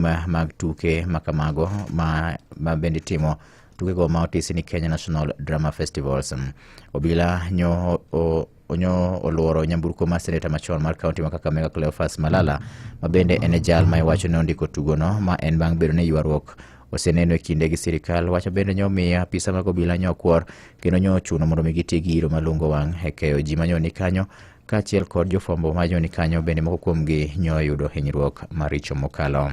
ma- mag tuke ma kamago ma, ma bende itimo tukego ma otisi ni kenya national drama festivals Mm. obila nyo o, onyo oluoro nyamburko mar seneta machon mar kaunti ma kakamega cleofas malala ma bende en e jal ma iwacho ne ondiko tugono ma en bang' bedo ne ywaruok oseneno e kinde gi sirikal wacho bende nyo miyo apisa mag obila nyo kwor kendo nyo ochuno mondo mi giti gi iro malungo wang' e keyo ji manyo ni kanyo kaachiel kod jofwambo ma joni kanyo bende moko kuomgi nyo oyudo hinyruok maricho mokalo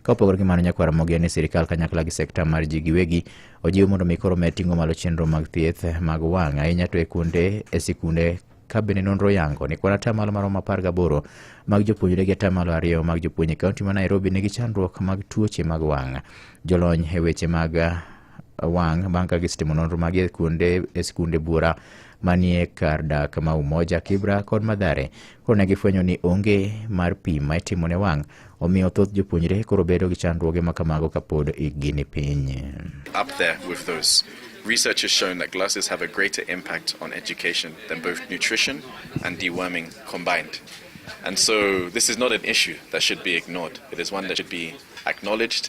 ka opogore gi mano nyakwar mogen ni sirikal kanyakla gi sekta mar ji giwegi ojiw mondo mi koro med ting'o malo chenro mag thieth mag wang' ahinya to e kunde e sikunde ka bende nonro yango ni kwan atamalo maromo apar gaboro mag jopuonjre gi atamalo ariyo mag jopuonj e kaunti ma nairobi nigi chandruok mag tuoche mag wang' jolony e weche mag wang' bang' ka gisetimo nonro magi e kuonde e sikunde bura manie kar dak ma Umoja, Kibra kod Madhare. Koro ne gifwenyo ni onge mar pim ma itimo ne wang', omiyo thoth jopuonjre koro bedo gi chandruoge ma kamago kapod ikgi ni piny. up there with those. Research has shown that glasses have a greater impact on education than both nutrition and deworming combined. And so this is not an issue that should be ignored. It is one that should be acknowledged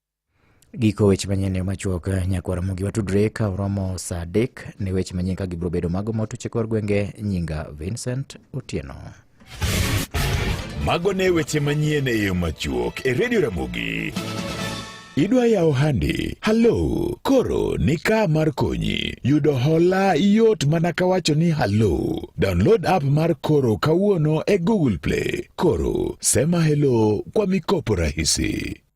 Giko weche manyien ne machuok nyakwara mogi watudre ka oromo saa adek ne weche manyien ka gibiro bedo mago motuche kor gwenge nyinga Vincent Otieno. Mago ne weche manyien e yo machuok e Radio Ramogi. Idwa yawo handi? Halo, koro ni ka mar konyi. Yudo hola yot mana ka wacho ni halo. Download app mar Koro kawuono e Google Play. Koro, sema hello kwa mikopo rahisi.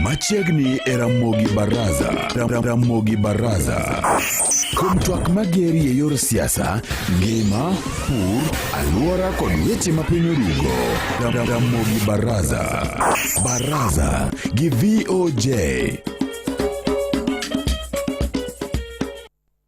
Machiegni e Ramogi Baraza. Ram- Ramogi Baraza. Kuom twak mageri e yor siasa, ngima, pur, alwora kod weche ma piny orugo. Ram- Ram- Ramogi Baraza. Baraza gi VOJ.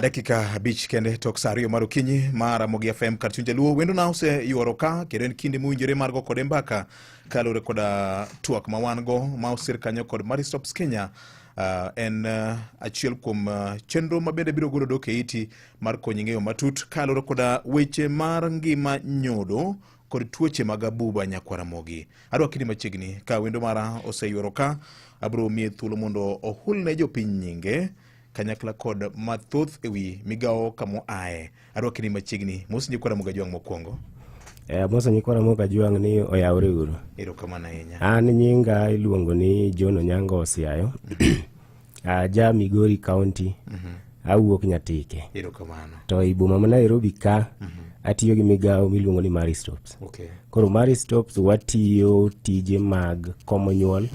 dakika abich kende tok sa ariyo mar okinyi mar Amogi FM kar chuny jaluo wendo na oseyuoro ka kendo en kinde mowinjore mar go kode mbaka kaluwore koda twak ma wan go ma osir kanyo kod Maristops Kenya uh, en uh, achiel kuom uh, chenro ma bende biro golo dok e iti mar konyi ng'eyo matut kaluwore koda weche mar ngima nyodo kod tuoche mag abuba nyakwaramogi adwa kidi machiegni ka wendo mara oseywero ka abiro miye thuolo mondo ohul ne jopiny nyinge kanyakla kod mathoth ewi migawo kamo aye adwa kidi machiegni mos nyikwaramogi ajwang' mokwongo Eh, Musa Nyikora Moga Juang' ni oyawre uru. erokamano ahinya An nyinga iluongo ni John Onyango Osiayo. Aja Migori County, awuok Nyatike. Erokamano. To e boma ma Nairobi ka, atiyo gi migawo miluongo ni Mary Stopes. Okay. Koro Mary Stopes watiyo tije mag komo nyuol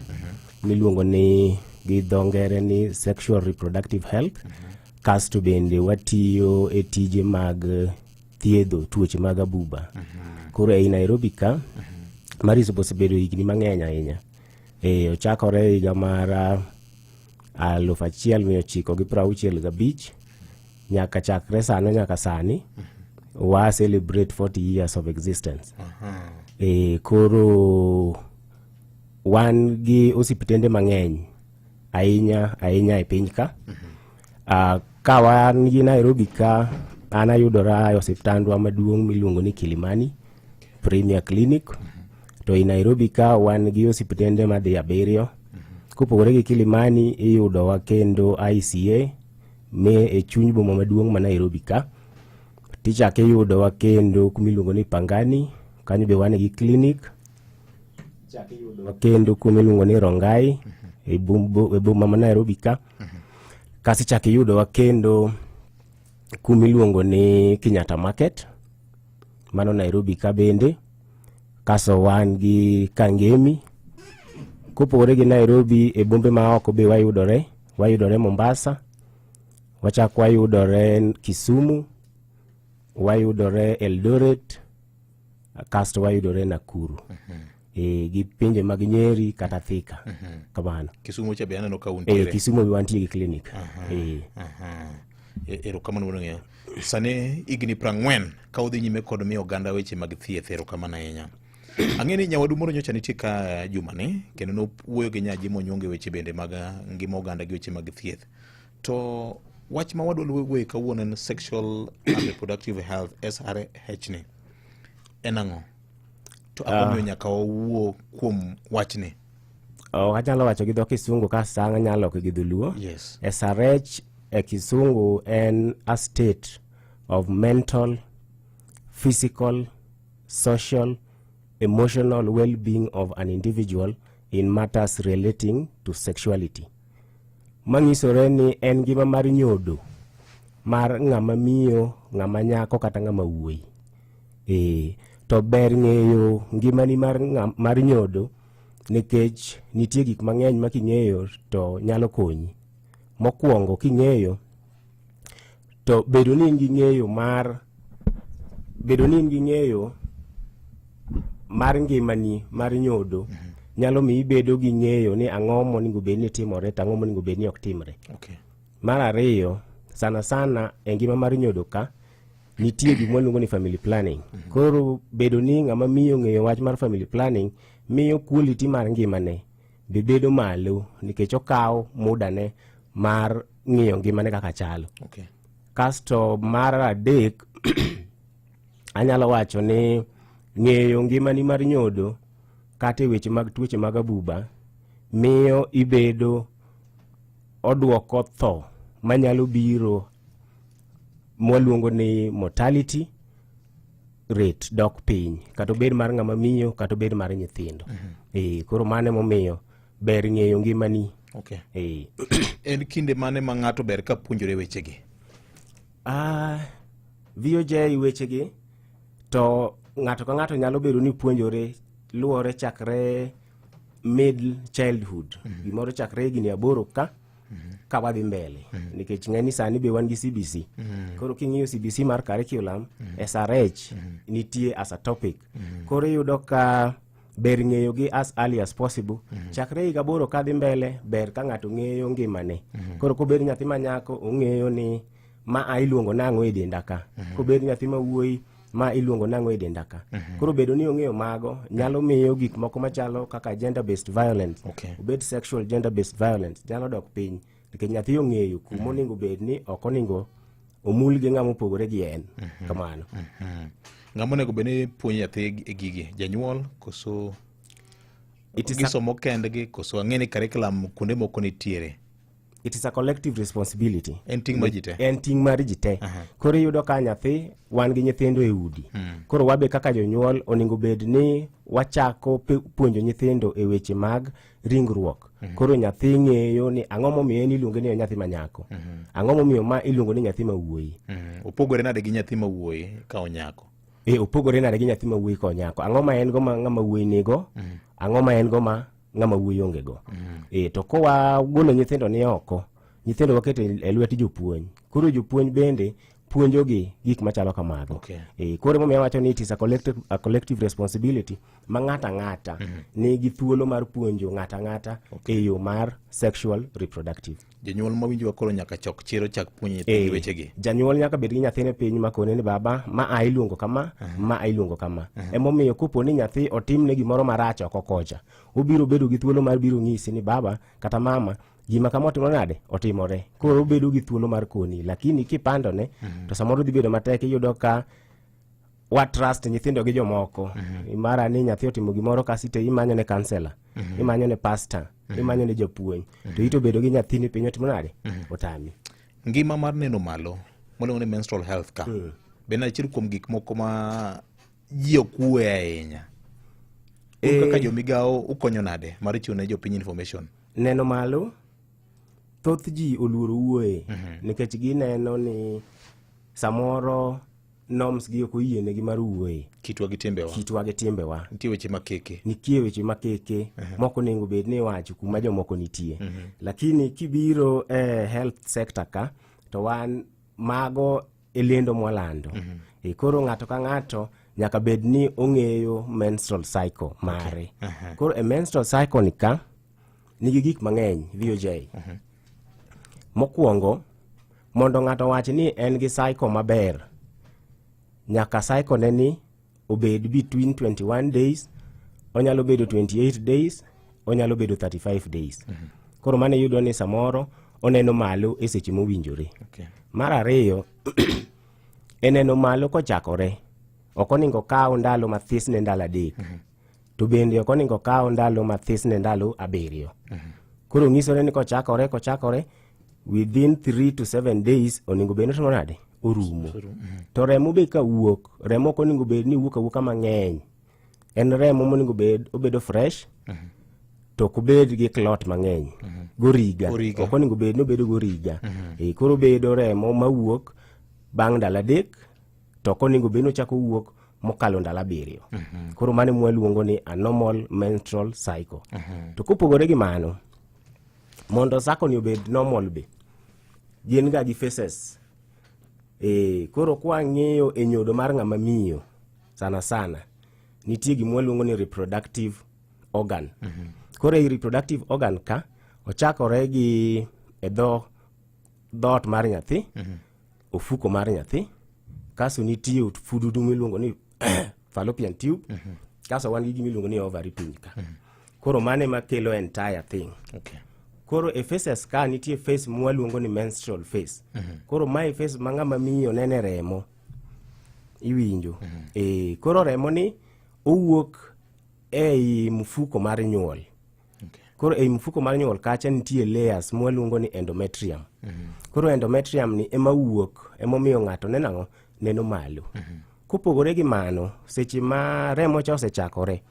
miluongo ni gi dho ngere ni sexual reproductive health. Kasto bende watiyo e tije mag eh, thiedho tuoche mag abuba. Koro ei Nairobi ka, Mary Stopes osebedo higni mang'eny ahinya. e ochakore e higa mar ah, aluf achiel mia ochiko gi piero auchiel gabich nyaka chakre sano nyaka sani wa celebrate 40 years of existence e koro wan gi osiptende mang'eny ahinya ahinya e piny ka Uh, ka wan gi Nairobi ka an ayudora e osiptandwa maduong' miluongo ni Kilimani Premier Clinic to i Nairobi ka wan gi osiptende madhi abiriyo kopogore gi Kilimani iyudowa kendo ICA me e chuny boma maduong' ma Nairobi ka tichak iyudowa kendo kumiluongo ni Pangani kanyo be wan gi clinic kendo kuma iluongo ni Rongai e bum- e boma ma Nairobi ka kasi chak iyudowa kendo kuma iluongo ni Kenyatta Market mano Nairobi ka bende kaso wan gi Kangemi kopogore gi Nairobi e bombe ma oko be wayudore wayudore Mombasa wachak wayudore Kisumu wayudore Eldoret kasto wayudore Nakuru e, gi pinje mag Nyeri kata Thika kamano. Kisumo cha be aneno ka E, untiere. Kisumo be wantie gi clinic e, Aha. E- Erokamano wuod ng'eyo. Sani higni prang'wen ka udhi nyime kod miyo oganda weche mag thieth erokamano ahinya. Ang'e ni nyawadu moro nyocha nitie ka jumani kendo nowuoyo gi nyaji monyonge weche bende mag ah, ngima oganda gi weche mag thieth. To wach ma wadwa luwe kawuono en sexual and reproductive health SRH ni en ang'o? To ang'o ah. miyo nyaka wawuo kuom wachni? Oh, anyalo wacho gi dho Kisungu ka sang' anyalo gi dholuo. Yes. SRH e Kisungu en a state of mental, physical, social, emotional well-being of an individual in matters relating to sexuality. manyisore ni en ngima mar nyodo mar ng'ama miyo ng'ama nyako kata ng'ama wuoyi ee to ber ng'eyo ngimani mar, mar nyodo nikech nitie gik mang'eny ma king'eyo to nyalo konyi mokwongo king'eyo to bedo ni in gi ng'eyo mar bedo ni in gi ng'eyo mar ngimani mar nyodo mm -hmm. nyalo mi ibedo gi ng'eyo ni ang'o monego bed ni timore to ang'o monego bed ni ok timre okay. mar ariyo sana sana e ngima mar nyodo ka nitie gima waluongo ni family planning mm -hmm. koro bedo ni ng'ama miyo ng'eyo wach mar family planning miyo quality mar ngimane be bedo malo nikech okawo mudane mar ng'iyo ngimane kaka chalo okay. kasto mar adek anyalo wacho ni ng'eyo ngimani mar nyodo kata e weche mag tuoche mag abuba miyo ibedo odwoko tho manyalo biro mwaluongo ni mortality rate dok piny kata obed mar ng'ama miyo kata obed mar nyithindo mhm. eh, koro mano emomiyo ber ng'eyo ngimani okay. eh. en kinde mane ma ng'ato ber ka puonjore wechegi ah, VOJ wechegi to ng'ato ka ng'ato nyalo bedo ni puonjore luwore chakre middle childhood mm -hmm. gimoro chakre higni aboro ka ka wadhi mbele nikech ng'eni sani be wan gi cbc koro king'iyo cbc mar curriculum srh nitie as a topic koro iyudo ka ber ng'eyo gi as early as possible chakre higa boro kadhi mbele ber ka ng'ato ng'eyo ngimane koro kobed nyathi manyako ong'eyo ni ma a iluongo nang'o e denda ka mhm. kobed nyathi ma wuoyi ma iluongo nang'o e denda ka mhm. koro bedo ni ong'eyo mago nyalo mhm. miyo gik moko machalo kaka gender based violence okay. obed sexual gender based violence nyalo dok piny nikech nyathi ong'eyo kuma onego bed ni ok onego omul gi ng'ama opogore gi en kamano ng'ama onego bed ni puonj nyathi e gigi janyuol koso gisomo kendgi koso ang'e ni curriculum kuonde moko nitiere it is a collective responsibility en ting mar ji te en ting mar ji te koro iyudo ka nyathi wan gi nyithindo e udi hmm. koro wabe kaka jonyuol onego bed ni wachako puonjo nyithindo e weche mag ringruok hmm. koro nyathi ng'eyo ni ang'o momiyo en iluonge ni nyathi ma nyako hmm. ang'o momiyo ma iluongo ni nyathi ma wuoyi opogore nade gi nyathi ma wuoyi ka onyako e opogore nade gi nyathi ma wuoyi ka onyako ang'o ma en go ma ng'ama wuoyi nigo ang'o ma en go ma ng'ama wuoyi onge go mm. e, to kowa golo nyithindo ni oko nyithindo waketo e, e lwet jopuonj koro jopuonj bende puonjogi gik machalo kamago okay. e, koro momiyo wacho ni it is a collective, a collective responsibility ma ng'ato ang'ata mm -hmm. nigi thuolo mar puonjo ng'ato ang'ata okay. e yo mar sexual reproductive Jonyuol ma winjowa koro nyaka chok chir ochak puonjo nyithindgi Eh, wechegi. janyuol nyaka bed gi nyathine piny makone ni baba ma a iluongo kama ma a iluongo kama emomiyo kopo ni nyathi otimne gimoro marach oko kocha obiro bedo gi thuolo mar biro nyisi ni baba kata mama gima kama otimo nade otimore koro obedo gi thuolo mar koni lakini kipandone to samoro dhi bedo matek iyudo ka wa trust nyithindo gi jomoko mm-hmm. mara ni nyathi otimo gimoro kasi to imanyo ne kansela mm-hmm. imanyo ne pasta mm-hmm. imanyo ne japuonj mm-hmm. to ito bedo gi nyathini piny otimo nade mm-hmm. otami ngima mar neno malo moluongo ni menstrual health ka mm. bende achiel kuom gik moko ma ji okue ahinya e... kaka eh. jomigawo ukonyo nade mar chiwo ne jopiny information neno malo thoth ji oluoro wuoye mm-hmm. nikech gineno ni samoro norms gi ok oyienegi mar wuoye kitwa gi timbewa kitwa gi timbewa nitie weche makeke nitie weche makeke uh -huh. moko nengo bed ni iwacho kuma jomoko nitie uh mhm. -huh. lakini kibiro eh, health sector ka to wan mago e lendo mwalando uh mhm. -huh. e koro ng'ato ka ng'ato nyaka bed ni ong'eyo menstrual cycle mare okay. uh -huh. koro e menstrual cycle ni ka nigi gik mang'eny VOJ. Mokwongo, mondo ng'ato wach ni en gi cycle maber, nyaka cycle ne ni obed between 21 days, onyalo bedo 28 days, onyalo bedo 35 days. Koro mano iyudo ni samoro oneno malo e seche mowinjore. Okay. Mar ariyo, e neno malo kochakore, ok oningo kaw ndalo mathis ne ndalo adek. to bende ok oningo kaw ndalo mathis ne ndalo abiriyo koro nyisore ni kochakore kochakore within 3 to 7 days oningo bed notimo nade orumo to remo be ka wuok remo ok oningo bed ni wuok awuoka mang'eny en remo moningo bed obedo fresh to ok obed gi clot mang'eny goriga Goriga. ok oningo bed ni obedo goriga Eh, koro obedo remo mawuok bang' ndalo adek to ok onego bed ni ochako wuok mokalo ndalo abiriyo mhm. koro mano mwaluongo ni anormal menstrual cycle mhm. to kopogore gi mano mondo sakoni obed normal be gin ga gi faces e, koro kwang'iyo e nyodo mar ng'ama miyo sana sana nitie gima waluongo ni reproductive organ mm -hmm. koro ei reproductive organ ka ochakore gi e dho dhoot mar nyathi mm -hmm. ofuko mar nyathi kaso nitie fududu miluongo ni fallopian tube mm -hmm. kaso wan gi gimiluongo ni ovary piny ka mm -hmm. koro mane makelo entire thing okay. koro e faces ka nitie face mwaluongo ni menstrual face mm -hmm. koro mae face ma ng'ama miyo nene remo iwinjo mm -hmm. e, koro remo ni owuok ei mfuko mar nyuol Okay. Koro ei mfuko mar nyuol kacha nitie layers mwaluongo ni endometrium. Mm -hmm. Koro endometrium ni ema wuok emomiyo ng'ato nenang'o neno malo. Mm -hmm. Kopogore gi mano, seche ma remo cha osechakore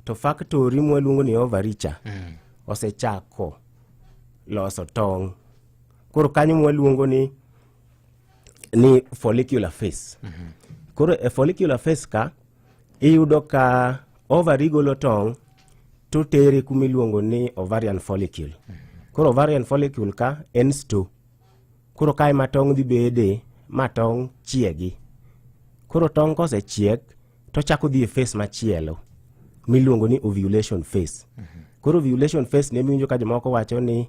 to faktori mwaluongo ni ovary cha mm -hmm. osechako loso tong'. Koro kanyo mwaluongo ni ni follicular phase. Mm -hmm. Koro e follicular phase ka iyudo ka ovary golo tong' to tere kuma iluongo ni ovarian follicle koro ovarian follicle ka en sto koro kae ma tong' dhi bede ma tong' chiegi koro tong' kosechiek tochako dhi e face machielo miluongo ni ovulation face koro ovulation face ne miwinjo ka jomoko wacho ni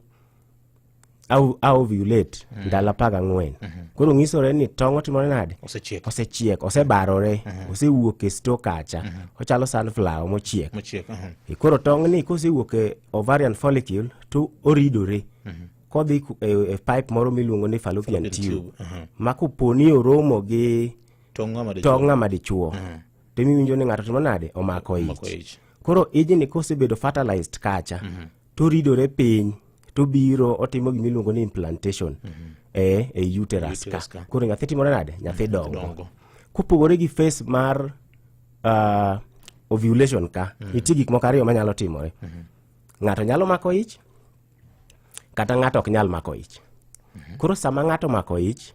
au au violate mm. ndalo apar gang'wen mm -hmm. koro nyisore ni tong' otimore nade osechiek osechiek osebarore mm -hmm. osewuok e sto kacha mm -hmm. ochalo sunflower mochiek mochiek mm -hmm. koro tong' ni kosewuok e ovarian follicle to oridore mm -hmm. kodhi e, e pipe moro miluongo ni fallopian tube mm -hmm. ma koponi oromo gi tong' ng'ama dichuo mm -hmm. to imiwinjo ni ng'ato timo nade omako ich koro ijni kosebedo fertilized kacha mm -hmm to ridore piny to biro otimo gima iluongo ni implantation mm -hmm. e, e uterus ka koro nyathi timore nade nyathi mhm, dongo, dongo. kopogore gi face mar uh, ovulation ka mm -hmm. nitie gik moko ariyo manyalo timore mm -hmm. ng'ato nyalo mako ich kata ng'ato ok nyal mako ich mm -hmm. koro sama ng'ato mako ich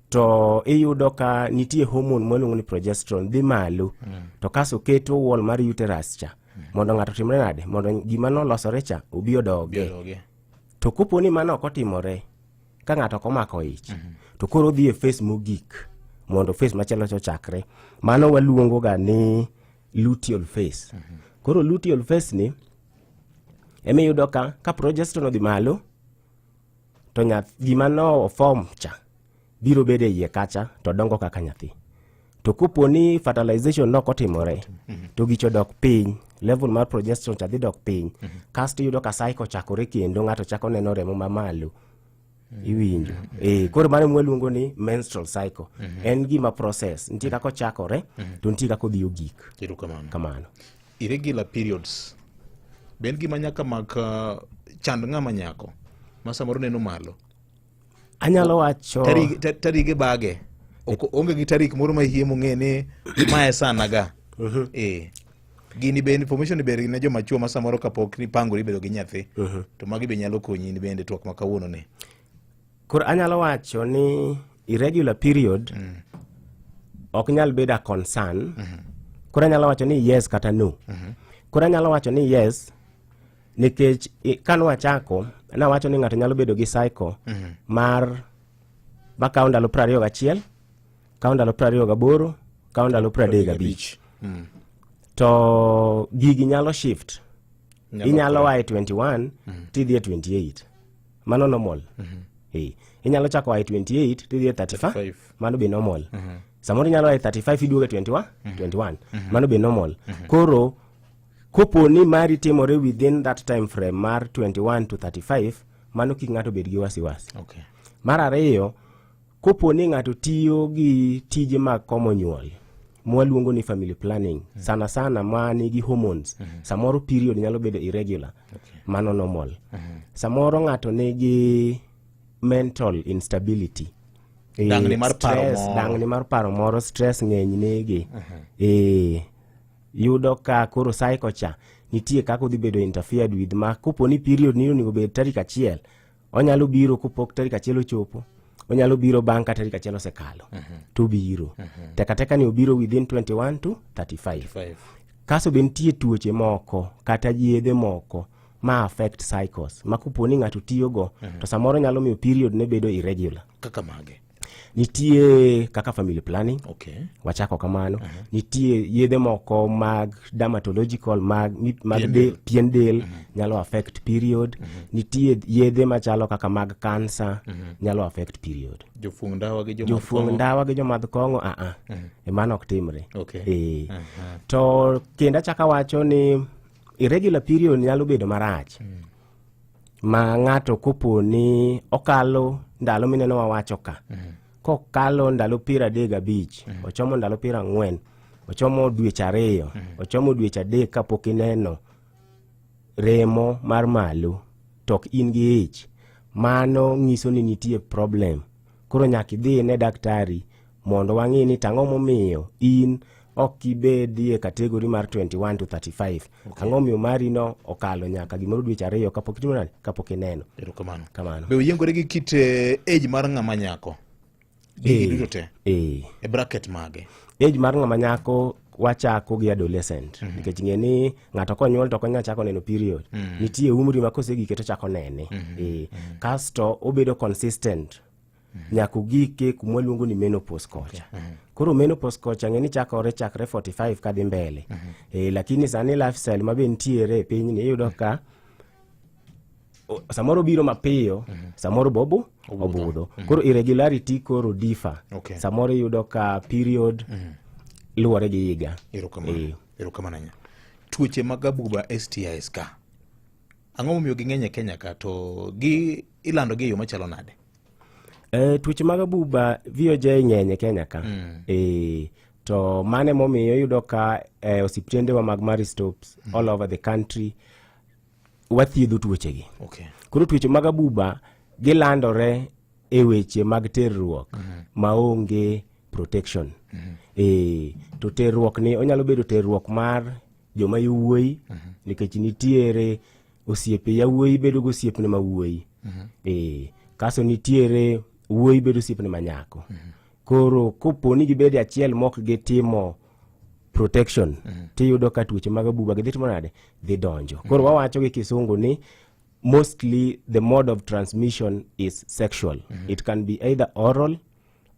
to iyudo ka nitie homon mwaluongo ni progesterone dhi malo mm. to kaso keto wall mar uterus cha mondo ng'ato timre nade mondo gima nolosore cha obi odoge to kopo ni mano ok otimore ka ng'ato ok omako ich mhm. to koro odhi e fes mogik mondo fes machielo cha ochakre mano waluongo ga ni luteal fes mhm. koro luteal fes ni ema iyudo ka ka progesterone odhi malo to nyath gima no form cha biro bedo e iye kacha to dongo kaka nyathi to kopo ni fertilization nok otimore mhm. to gicho dok piny level mar progesterone cha dhi dok piny mhm. kasto iyudo ka cycle chakore kendo ng'ato chako neno remo mamalo mhm. iwinjo e koro mano mwaluongo ni menstrual cycle en gima process nitie kaka ochakore to nitie kaka odhi ogik kamano irregular periods be en gima nyaka mak uh, chand ng'ama nyako ma samoro neno malo anyalo wacho tarik ta- tarik ibage Ok- onge gi tarik moro ma hie mong'e ni mae sana ga eh gini be information ber ne joma chuo ma samoro kapok ipangori bedo gi nyathi to magi be nyalo konyi in bende twak ma kawuono ni koro anyalo wacho ni irregular period ok nyal bedo a concern koro anyalo wacho ni yes kata no koro anyalo wacho ni yes nikech ka nwachako nawacho ni ng'ato nyalo bedo gi cycle mm -hmm. mar makawo ndalo piero ariyo gachiel kawo ndalo piero ariyo gaboro kawo ndalo piero adek gabich mm. to gigi nyalo shift inyalo waye 21 mm -hmm. tidhi e 28 mano normal mm -hmm. hey. inyalo chako waye 28 tidhi e 35 mano be normal mm -hmm. samoro inyalo waye 35 iduogo e 21 mm -hmm. 21 mm -hmm. mano be normal mm -hmm. koro Kopo ni mari timore within that time frame mar 21 to 35, mano kik ng'ato bed gi wasiwasi. Okay. Mar ariyo, kopo ni ng'ato tiyo gi tije mag komo nyuol, mwaluongo ni family planning mm. sana sana ma nigi hormones mm -hmm. samoro period nyalo bedo irregular okay. mano normal mm -hmm. samoro ng'ato nigi mental instability e, dangni mar paro moro stress ng'eny nege mm -hmm. e, yudo ka koro cycle cha nitie kaka odhi bedo interfered with ma kopo ni period ni onego bed tarik achiel onyalo biro kopok tarik achiel ochopo onyalo biro bang' ka tarik achiel osekalo uh mhm. -huh. to biro uh mhm. -huh. tekateka ni obiro within 21 to 35, 35. kaso be nitie tuoche moko kata yedhe moko ma affect cycles ma kopo ni ng'ato tiyogo uh mhm. -huh. to samoro nyalo miyo period ne bedo irregular kaka mage nitie kaka family planning okay. wachako kamano uh -huh. nitie yedhe moko mag dermatological mag, mag pien del, pien del uh -huh. nyalo affect period uh -huh. nitie yedhe machalo kaka mag cancer uh -huh. nyalo affect period jofuong ndawa gi jofuong ndawa gi jomadh kong'o a a uh -huh. emano ok timre okay. e. uh -huh. to kendo achaka wacho ni irregular period nyalo bedo marach uh -huh. ma ng'ato kopo ni okalo ndalo mineno wawacho ka mm. kokalo ndalo piero adek gabich mm. ochomo ndalo piero ang'wen ochomo dweche ariyo mm. ochomo dweche adek kapok ineno remo mar malo to ok in gi ich mano nyiso ni nitie problem koro nyaka idhi ine daktari mondo wang'i ni tang'o momiyo in ok ibedi e kategori mar 21 to 35 okay. ang'o miyo mari no okalo nyaka gimoro dweche ariyo kapok itimo nani kapok ineno erokamano kamano be oyiengore gi kit eh, age mar ng'ama nyako gigi eh, duto te eh. e bracket mage age mar ng'ama nyako wachako gi adolescent mm -hmm. nikech ng'e ni ng'ato konyuol to konya chako neno period mm -hmm. nitie umri ma kosegike to chako nene mm -hmm. e, kasto obedo consistent mm -hmm. nyaka ogike kuma waluongo ni menopause kocha okay. mm -hmm. koro menopause kocha ng'e ni chakore chakre 45 kadhi mbele mm -hmm. e, lakini sani lifestyle ma be nitiere e pinyni iyudo ka mm -hmm samoro biro mapiyo mm -hmm. samoro bobo obudho, obudho. Mm -hmm. koro irregularity koro difa okay. samoro iyudo ka period mm -hmm. luwore gi higa erokamano eh. tuoche mag abuba stis ka ang'o momiyo ging'eny e kenya ka to gi ilando gi e yo machalo nade e, tuoche mag abuba voj ng'eny e kenya ka mm. e, to mane momiyo iyudo ka e, osiptendewa mag maristops mm. all over the country wathiedho tuochegi okay. koro tuoche mag abuba gilandore e weche mag terruok mm -hmm. maonge protection mm -hmm. e, to terruok ni onyalo bedo terruok mar joma yowuoyi mm -hmm. nikech nitiere osiepe yawuoyi bedo gi osiepne ma wuoyi mm -hmm. e, kaso nitiere wuoyi bedo osiepne ma nyako mm -hmm. koro kopo ni gibedo achiel mok gitimo protection tiyudo ka tuoche mag abuba gidhi timo nade dhi donjo koro wawacho gi kisungu ni mostly the mode of transmission is sexual it can be either oral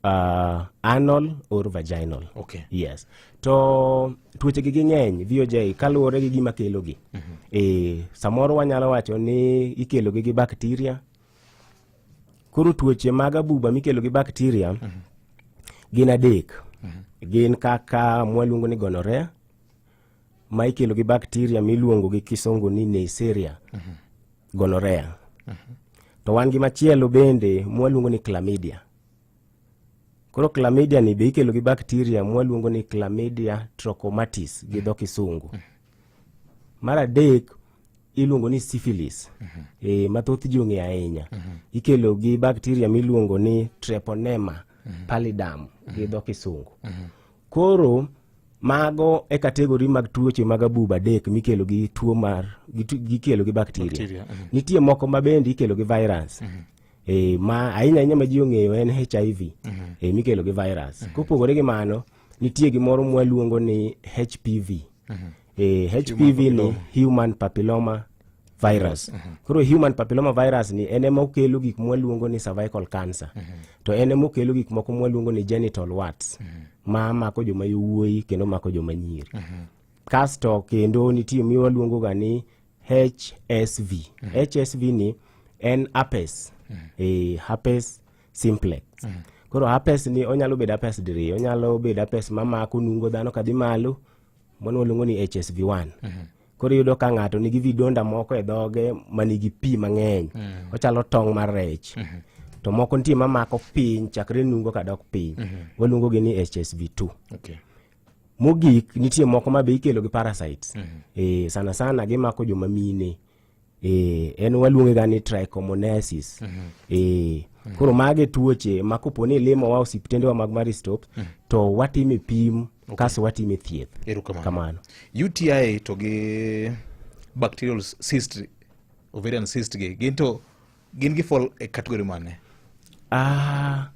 uh, anal or vaginal Okay. yes to tuochegi gi ng'eny voj kaluwore gi gima kelogi e, samoro wanyalo wacho ni ikelogi gi bakteria Koro tuoche mag abuba mikelo gi bakteria mm -hmm. gin adek. Mm -hmm. Gin kaka mwaluongo ni gonorea ma ikelo gi bakteria miluongo gi kisongo ni Neisseria mm -hmm. gonorea. Mm -hmm. To wan gi machielo bende mwaluongo ni chlamydia. Koro chlamydia ni be ikelo gi bakteria mwaluongo ni chlamydia trachomatis gi dho kisungu. Mar adek iluongo ni syphilis e, ma thoth ji ong'eyo ahinya. Ikelo gi bakteria miluongo ni treponema pallidum gi dho kisungu. Koro mago e kategori mag tuoche mag abuba adek mikelo gi tuo mar gikelo gi bakteria. Nitie moko ma bende ikelo gi virus. e, ma ahinya ahinya ma ji ong'eyo en hiv mhm. e, mikelo gi virus mhm. kopogore gi mano nitie gimoro mwaluongo ni hpv mhm. e, hpv ni human papilloma virus koro human papilloma virus ni en ema okelo gik mwaluongo ni cervical cancer to en ema okelo gik moko mwaluongo ni genital warts ma mako joma yowuoyi kendo mako joma nyiri kasto kendo nitie miwaluongoga ni HSV. HSV ni en herpes. Eh, herpes simplex. Koro herpes ni onyalo bedo herpes diriyo, onyalo bedo herpes mamako nungo dhano kadhi malo, mano waluongo ni HSV1. Koro iyudo ka ng'ato nigi vidonda moko e dhoge ma nigi pi mang'eny, ochalo tong' mar rech. To moko nitie mamako piny chakre nungo kadok piny, waluongogi ni HSV2. Okay. Mogik nitie moko ma be ikelo gi parasites. Mm -hmm. E, sana sana gimako joma mine. E, en waluonge ga ni trichomonasis. Mm -hmm. E, mm -hmm. Koro mage tuoche ma kopo ni limo wa osiptendewa mag Maristop mm -hmm. to watime pim okay. kaso watime thieth. Erukamano. Kamano. UTI to gi bacterial cyst ovarian cyst gi gin to gin gi fall e category mane? Ah,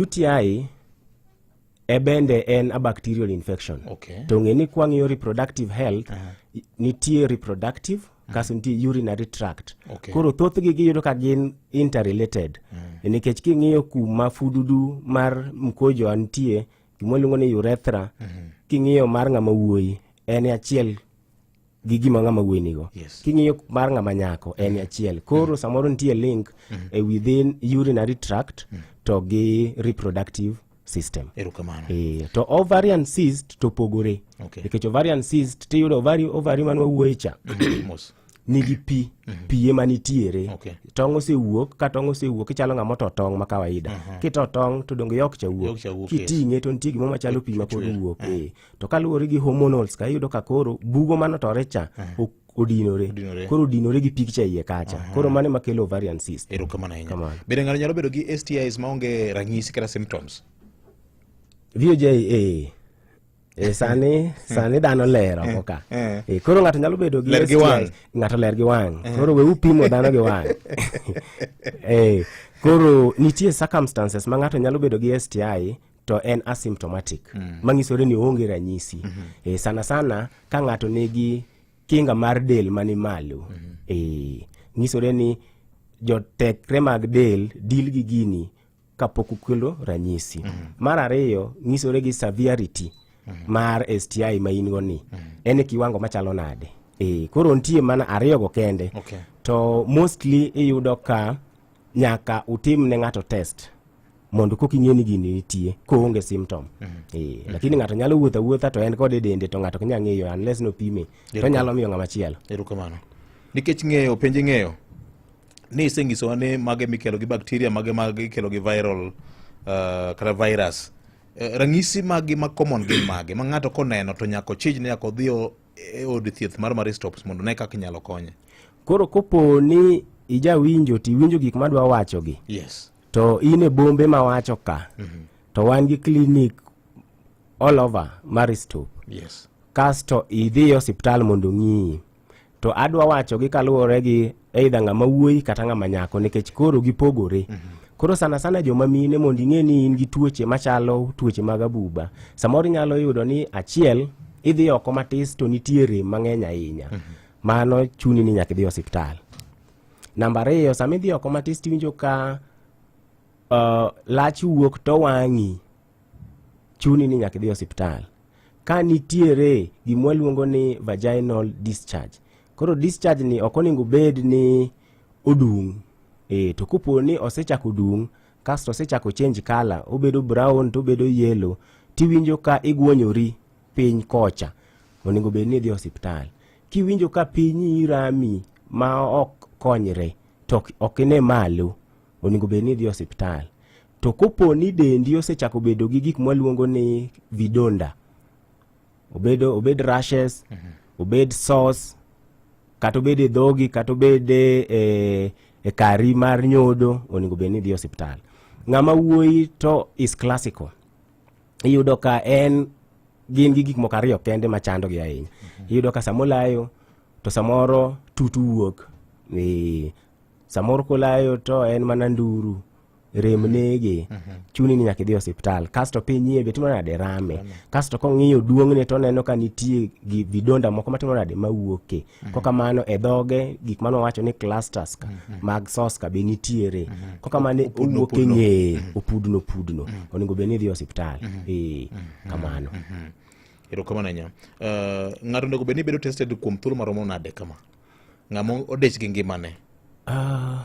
UTI e bende en a bacterial infection okay. to ng'e ni kwang'iyo reproductive health uh -huh. nitie reproductive mm. kaso nitie urinary tract okay. koro thothgi giyudo ka gin interrelated mm. E nikech king'iyo kuma fududu mar mkojo antie gima iluongo ni urethra mm -hmm. king'iyo mar ng'ama wuoyi en achiel gi gima ng'ama wuoyi nigo yes. king'iyo mar ng'ama nyako en achiel koro mm. samoro nitie link mm. e within urinary tract mm. to gi reproductive system erokamano e, to ovarian cyst to pogore okay. nikech ovarian cyst tiyudo ovari, ovari man wawuoye cha mm, nigi pi mm -hmm. pi ema nitiere okay. tong' osewuok ka tong' osewuok ichalo ng'ama oto tong' ma kawaida uh mhm. -huh. kito tong' to donge yok cha wuok kiting'e to nitie gimo machalo pi ma pod wuok uh eh. -huh. to kaluwore gi hormonals ka iyudo ka koro bugo manotore cha ok odinore Odinore. koro odinore gi picture iye kacha koro mano ema kelo ovarian cyst erokamano ahinya Kamano. bende ng'ato nyalo bedo gi stis maonge ranyisi kata symptoms VOJ eh, eh, sani sani dhano ler oko ka eh. Eh, koro ng'ato nyalo bedo gi Ler gi STI, wang'. ng'ato ler gi wang' koro we upimo dhano gi wang' Eh, koro nitie circumstances ma ng'ato nyalo bedo gi STI to en asymptomatic mm. mang'isore ni oonge ranyisi mm -hmm. e, sana sana ka ng'ato nigi kinga mar del mani malo mm -hmm. e, ng'isore ni jotekre mag del dil gi gini kapok ukelo ranyisi mm -hmm. mar ariyo ng'isore gi severity mm -hmm. mar STI ma in go ni mm -hmm. en e kiwango machalo nade e, koro nitie mana ariyogo kende okay. to mostly iyudo ka nyaka utim ne ng'ato test mondo kok ing'e ni gini nitie koonge symptom mm -hmm. e, lakini ng'ato nyalo wuotho awuotha to en kod e dende to ng'ato kinya ng'eyo unless nopime to nyalo miyo ng'ama chielo erokamano nikech ng'eyo penje ng'eyo ni isenyisowa ni mage mikelo gi bakteria mage mage ikelo gi viral uh, kata virus uh, ranyisi magi ma common gin mage ma ng'ato koneno to nyako chij ni nyaka odhi e od thieth mar Maristops mondo ne kaka inyalo konye. Koro kopo ni ijawinjo to iwinjo gik madwa wachogi. Yes. To in e bombe ma wacho ka. Mm -hmm. To wan gi klinik all over Maristop. Yes. Kasto idhi e osiptal mondo ng'iyi. To adwa wachogi kaluwore gi eidha ng'ama wuoyi kata ng'ama nyako nikech koro gipogore mm -hmm. Koro sana sana joma mine mondo ing'e ni in gi tuoche machalo tuoche mag abuba. Samoro inyalo yudo ni achiel idhi oko matis to nitie rem mang'eny ahinya. Mm -hmm. Mano chuni ni nyaka idhi osiptal. Namba ariyo sama idhi oko matis tiwinjo ka uh, lach wuok to wang'i chuni ni nyaka idhi osiptal. Ka nitiere gimwa luongo ni vaginal discharge Koro discharge ni ok onego bed ni odung'. E, to kopo ni osechako dung' kasto osechako change color, obedo brown to obedo yellow, tiwinjo ka igwonyori piny kocha, onego bed ni idhi osiptal. Kiwinjo ka pinyi rami ma ok konyre, to ok ine malo, onego bed ni idhi osiptal. To kopo ni dendi osechako bedo gi gik mwaluongo ni vidonda, obed obed rashes mm -hmm. obed sauce kata obed e dhogi kata obed e, e, e kari mar nyodo onego bed ni idhi osiptal ng'ama wuoyi to is classical iyudo ka en gin gi gik moko ariyo kende ma chandogi ahinya mm -hmm. iyudo ka sama olayo to samoro tutu wuok ni samoro kolayo to en mana nduru rem nege mhm. chuni ni nyaka idhi osiptal kasto piny iye be timo nade rame kasto kong'iyo duong'ne to oneno ka nitie gi vidonda moko matimo nade mawuoke mhm. koka mano e dhoge gik mano wacho ni clusters mhm. mag soska be nitiere koka mano owuok e ng'eye opudno opudno onego bed ni idhi osiptal ee eh, kamano erokamano ahinya eh, ng'ato onego bed ni bedo tested kuom thuolo maromo nade kama ng'ama odich gi ngimane uh,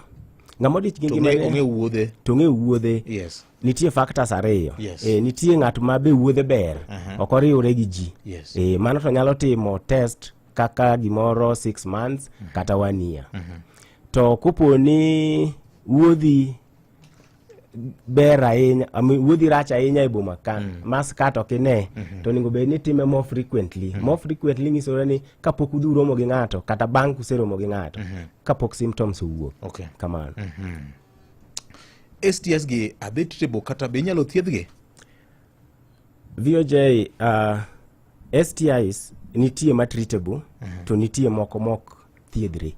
ng'ama odich gi ngimane ong'e wuodhe to ong'e wuodhe yes nitie factors ariyo yes. e, nitie ng'at ma be wuodhe ber uh -huh. ok oriwre gi ji yes. e, mano to nyalo timo test kaka gimoro six months uh mhm. -huh. kata one year uh mhm. -huh. to kopo ni wuodhi ber ahinya wuodhi rach ahinya e boma ka mm. mas kat ok ine mm -hmm. to onego bed ni time more frequently mm -hmm. more frequently nyisore ni kapok udhi uromo gi ng'ato kata bang' kuseromo gi ng'ato mm -hmm. kapok symptoms owuok okay. kamano mm -hmm. STS gi adhi treatable kata be inyalo thiedhgi VOJ uh, STIs nitie ma treatable mm -hmm. to nitie moko mok thiedhre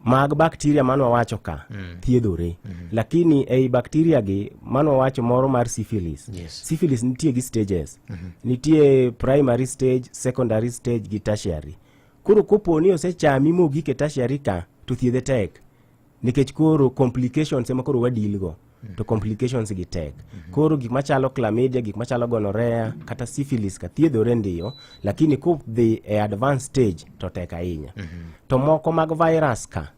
mag bakteria mane wawacho ka mm. thiedhore mm -hmm. lakini ei bakteria gi mane wawacho moro mar syphilis yes. syphilis nitie gi stages mm -hmm. nitie primary stage secondary stage gi tertiary koro kopo ni osechami mogik e tertiary ka to thiedhe tek nikech koro complications ema koro wadilgo to complications gi tek koro gik machalo chlamydia gik machalo gonorrhea kata syphilis ka thiedhore ndiyo lakini kudhi e advanced stage to tek ahinya to moko mag virus ka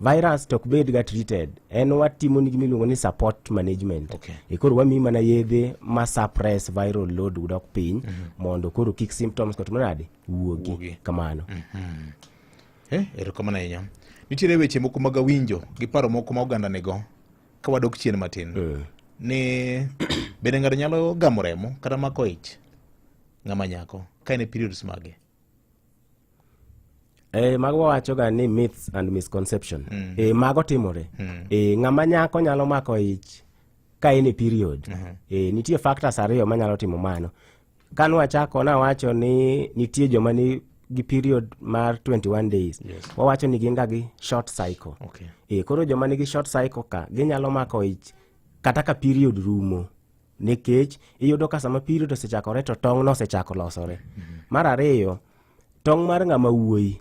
virus to ok bed ga treated en watimo ni gimiluongo ni support management Okay. e koro wamiyi mana yedhe ma suppress viral load dok piny mondo koro kik symptoms kod manade Wuogi. wuogi kamano Eh, erokamano ahinya nitiere weche moko mag awinjo gi paro moko ma oganda nigo ka wadok chien matin eh. ni bende ng'ato nyalo gamo remo kata mako ich ng'ama nyako ka en e periods mage Eh, mago wawachoga ni myths and misconception mm. eh, mago timore mm. eh, ng'ama nyako nyalo mako ich ka en e period mm -hmm. eh, nitie factors ariyo manyalo timo mano Ka nwachako nawacho ni nitie joma ni gi period mar 21 days yes. wawacho ni gin ga gi short cycle okay. e, koro joma nigi short cycle ka ginyalo mako ich kata ka period rumo nikech iyudo ka sama period osechakore to tong' nosechako losore mm -hmm. mar ariyo tong' mar ng'ama wuoyi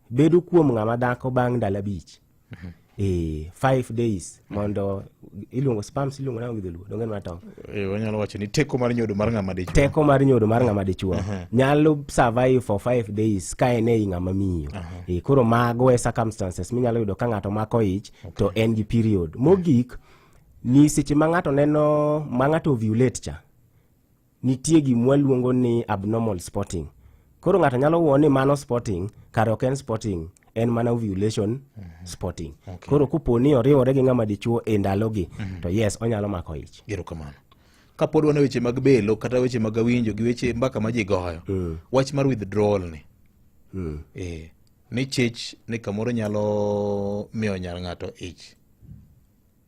bedo kuom ng'ama dhako bang' ndalo abich Mhm. Eh, five days mondo iluongo spams iluongo nango gi dholuo donge mana tong eh, wanyalo wacho ni teko mar nyodo mar ng'ama dichuo teko mar nyodo mar ng'ama dichuo uh-huh. nyalo survive for five days ka en ei ng'ama miyo uh-huh. e, koro mago e circumstances minyalo yudo ka ng'ato mako ich okay. to en gi period mogik ni seche ma ng'ato neno ma ng'ato ovulate cha nitie gima waluongo ni abnormal spotting koro ng'ato nyalo wuo ni mano spotting kar ok en spotting en mana ovulation mm -hmm. spotting okay. koro kupo ni oriwore gi ng'ama dichuo e ndalogi mm -hmm. to yes onyalo mako ich erokamano kapod wan e weche mag belo kata weche mag awinjo gi weche mbaka ma ji goyo mm. wach mar withdrawal ni mm. e, ni chich ni kamoro nyalo miyo nyar ng'ato ich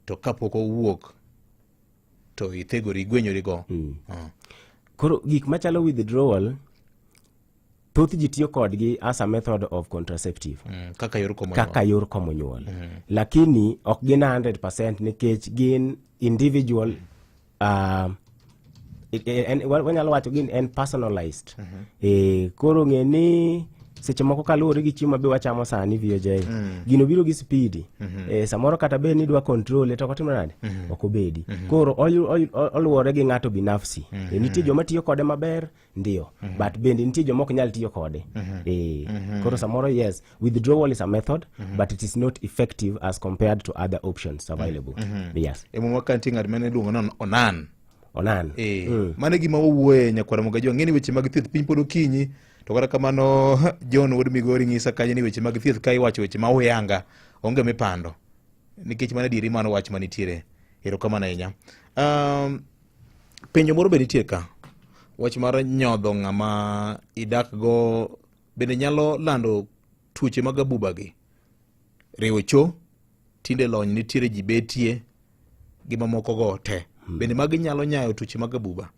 to kapok owuok to ithegori igwenyori go mm. uh. koro gik machalo withdrawal thoth ji tiyo kodgi as a method of contraceptive mm, kaka yor komo kaka yor komo nyuol mm. lakini ok gin 100% nikech gin individual mm. uh, wanyalo wacho gin en personalized mm -hmm. e, koro ng'e ni seche moko kaluwore gi chiemo mabe wachamo sani VJ mm. gino biro gi spidi mm -hmm. e, samoro kata bed ni idwa kontrole to kotimo nade mm -hmm. ok obedi mm -hmm. koro oluwore gi ng'ato binafsi mm -hmm. e, nitie joma tiyo kode maber ndio mm -hmm. but bende nitie joma ok nyal tiyo kode mm -hmm. e, mm -hmm. koro samoro yes withdrawal is a method mm -hmm. but it is not effective as compared to other options available mm -hmm. yes e, muma kanti ng'at mane iluongo ni onan onan e, mm. mane gima wawuoye nyakwara mogajo ang'e ni weche mag thieth piny pod okinyi To kata kamano John wuod Migori nyisa kanyo ni weche mag thieth ka iwacho weche ma uyanga onge mipando nikech mana diri mano wach manitiere erokamano ahinya um, penjo moro be nitie ka wach mar nyodho ng'ama idak go bende nyalo lando tuoche mag abuba gi riwo cho tinde lony nitiere ji betie gi mamoko go te hmm. bende magi nyalo nyayo tuoche mag abuba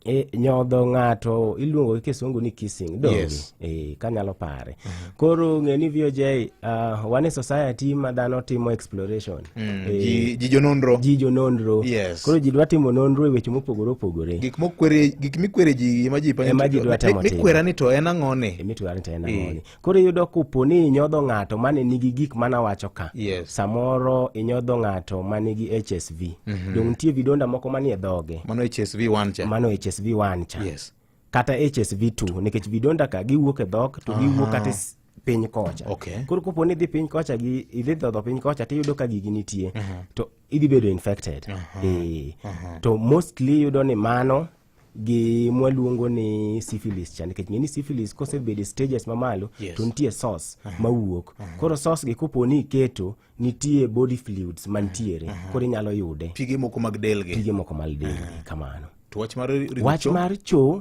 E, nyodho ng'ato iluongo gi kisungu ni kissing donge Yes. e, kanyalo pare koro ng'e ni voj uh, wan e society ma dhano timo exploration Mm, Eh, ji- ji jononro ji jononro Yes. koro ji dwa timo nonro e weche mopogore opogore gik mokwere gik mikwere ji ema ji panyo Ema ji dwa temo timo. mikwera ni to en ang'one mitware to en ang'oni Koro iyudo kopo ni inyodho ng'ato mane nigi gik mana wacho ka. Yes. Samoro inyodho ng'ato mane gi HSV. Mm -hmm. Dong nitie vidonda moko manie dhoge. Mano HSV 1 cha. Mano HSV 1 cha. Yes. Kata HSV 2 nikech vidonda ka giwuok e dhok to giwuok kata piny kocha okay. koro kopo ni idhi piny kocha gi idhi dhodho piny kocha to iyudo ka gigi nitie uh -huh. to idhi bedo infected uh -huh. e. uh -huh. to mostly iyudo ni mano gi mwaluongo ni syphilis cha nikech ng'eni syphilis kosebedo e stages mamalo Yes. to nitie sauce mawuok koro sauce gi kopo ni iketo nitie body fluids mantiere koro inyalo yude pige moko mag del gi pige moko mal del kamano to wach mar ringo wach cho- mar cho